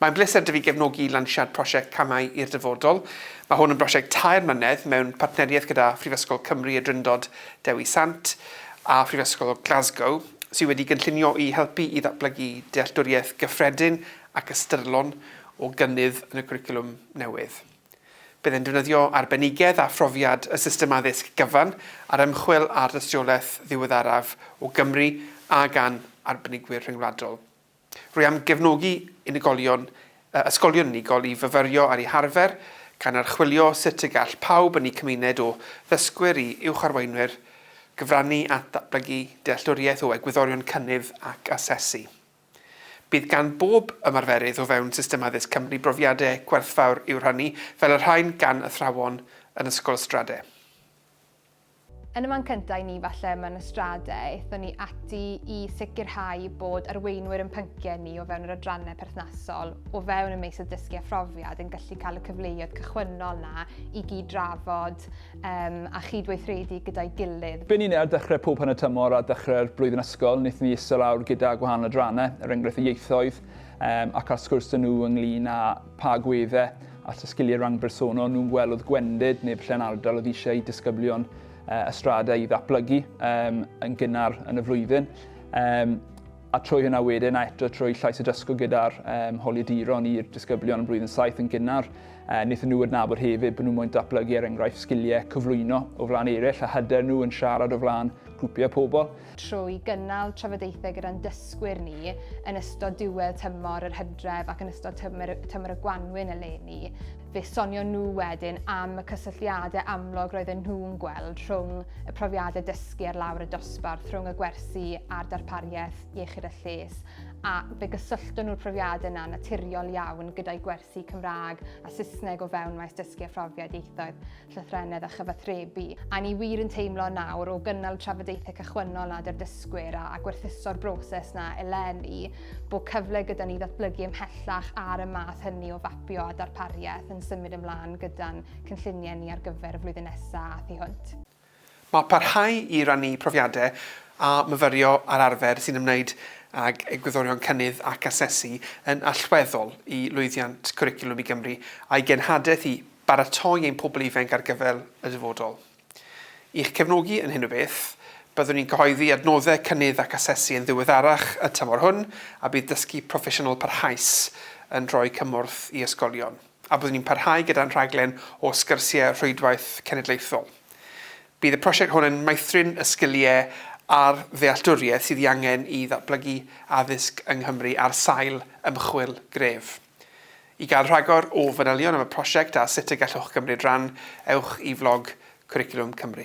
Mae'n bleser 'da fi gefnogi lansiad prosiect Camau i'r Dyfodol. Mae hwn yn brosiect tair mlynedd mewn partneriaeth gyda Phrifysgol Cymru y Drindod Dewi Sant a Phrifysgol Glasgow, sydd wedi gynllunio i helpu i ddatblygu dealltwriaeth gyffredin ac ystyrlon o gynnydd yn y cwricwlwm newydd. Bydd e'n defnyddio arbenigedd a phrofiad y system addysg gyfan ar ymchwil ar dystiolaeth ddiweddaraf o Gymru a gan arbenigwyr rhyngwladol. Rwy am gefnogi unigolion, ysgolion unigol i fyfyrio ar eu harfer, gan archwilio sut y gall pawb yn eu cymuned o ddysgwyr i uwcharweinwyr gyfrannu at ddatblygu dealltwriaeth o egwyddorion cynnydd ac asesu. Bydd gan bob ymarferydd o fewn system addysg Cymru brofiadau gwerthfawr i'w rhannu, fel y rhain gan athrawon yn Ysgol Ystrade. Yn y man cyntaf i ni falle mewn ystrade, aethon ni ati i sicrhau bod arweinwyr yn pynciau ni o fewn yr adrannau perthnasol o fewn y meysydd dysgu a phrofiad yn gallu cael y cyfleoedd cychwynnol na i gyd drafod um, a chydweithredu gyda'i gilydd. Be ni'n ei ar dechrau pob hanner tymor a dechrau'r blwyddyn ysgol, wnaethon ni isel awr gyda gwahanol adrannau, er enghraifft y ieithoedd, um, ac ar sgwrs dyn nhw ynglyn â pa agweddau at y sgiliau rhang bersonol nhw'n gweld oedd gwendid neu falle'n ardal oedd eisiau i disgyblion uh, ystrada i ddatblygu um, yn gynnar yn y flwyddyn. Um, a trwy hynna wedyn a eto trwy llais y dysgu gyda'r um, holiaduron i'r disgyblion yn blwyddyn saith yn gynnar, uh, wnaethon nhw adnabod hefyd bod nhw'n mwyn datblygu er enghraifft sgiliau cyflwyno o flaen eraill a hyder nhw yn siarad o flaen grwpiau pobl. trwy gynnal trafodaethau gyda'n dysgwyr ni yn ystod diwedd tymor yr hydref ac yn ystod tymor, tymor y gwanwyn eleni, fe sonio nhw wedyn am y cysylltiadau amlwg roedden nhw'n gweld rhwng y profiadau dysgu ar lawr y dosbarth, rhwng y gwersi a'r darpariaeth iechyd a lles, a fe gysyllto nhw'r profiadau yna naturiol iawn gyda'i gwersi Cymraeg a Saesneg o fewn maes dysgu a phrofiad ieithoedd. llythrennedd a chyfathrebu, a ni wir yn teimlo nawr, o gynnal trafodaethau cychwynnol nad yw'r dysgwyr a, a gwerthuso'r broses na eleni, bod cyfle gyda ni ddatblygu ymhellach ar y math hynny o fapio a darpariaeth yn symud ymlaen gyda'n cynlluniau ni ar gyfer y flwyddyn nesaf a thu hwnt. Mae parhau i rannu profiadau a myfyrio ar arfer sy'n ymwneud ag egwyddorion cynnydd ac asesu yn allweddol i lwyddiant Cwricwlwm i Gymru a'i genhadaeth i baratoi ein pobl ifainc ar gyfer y dyfodol. I'ch cefnogi yn hyn o beth, byddwn ni'n cyhoeddi adnoddau cynnydd ac asesu yn ddiweddarach y tymor hwn a bydd Dysgu Proffesiynol Parhaus yn rhoi cymorth i ysgolion. a byddwn ni'n parhau gyda'n rhaglen o sgyrsiau rhwydwaith cenedlaethol. Bydd y prosiect hwn yn meithrin y sgiliau a'r ddealltwriaeth sydd ei angen i ddatblygu addysg yng Nghymru ar sail ymchwil gref. I gael rhagor o fanylion am y prosiect a sut y gallwch gymryd rhan, ewch i flog Cwricwlwm Cymru.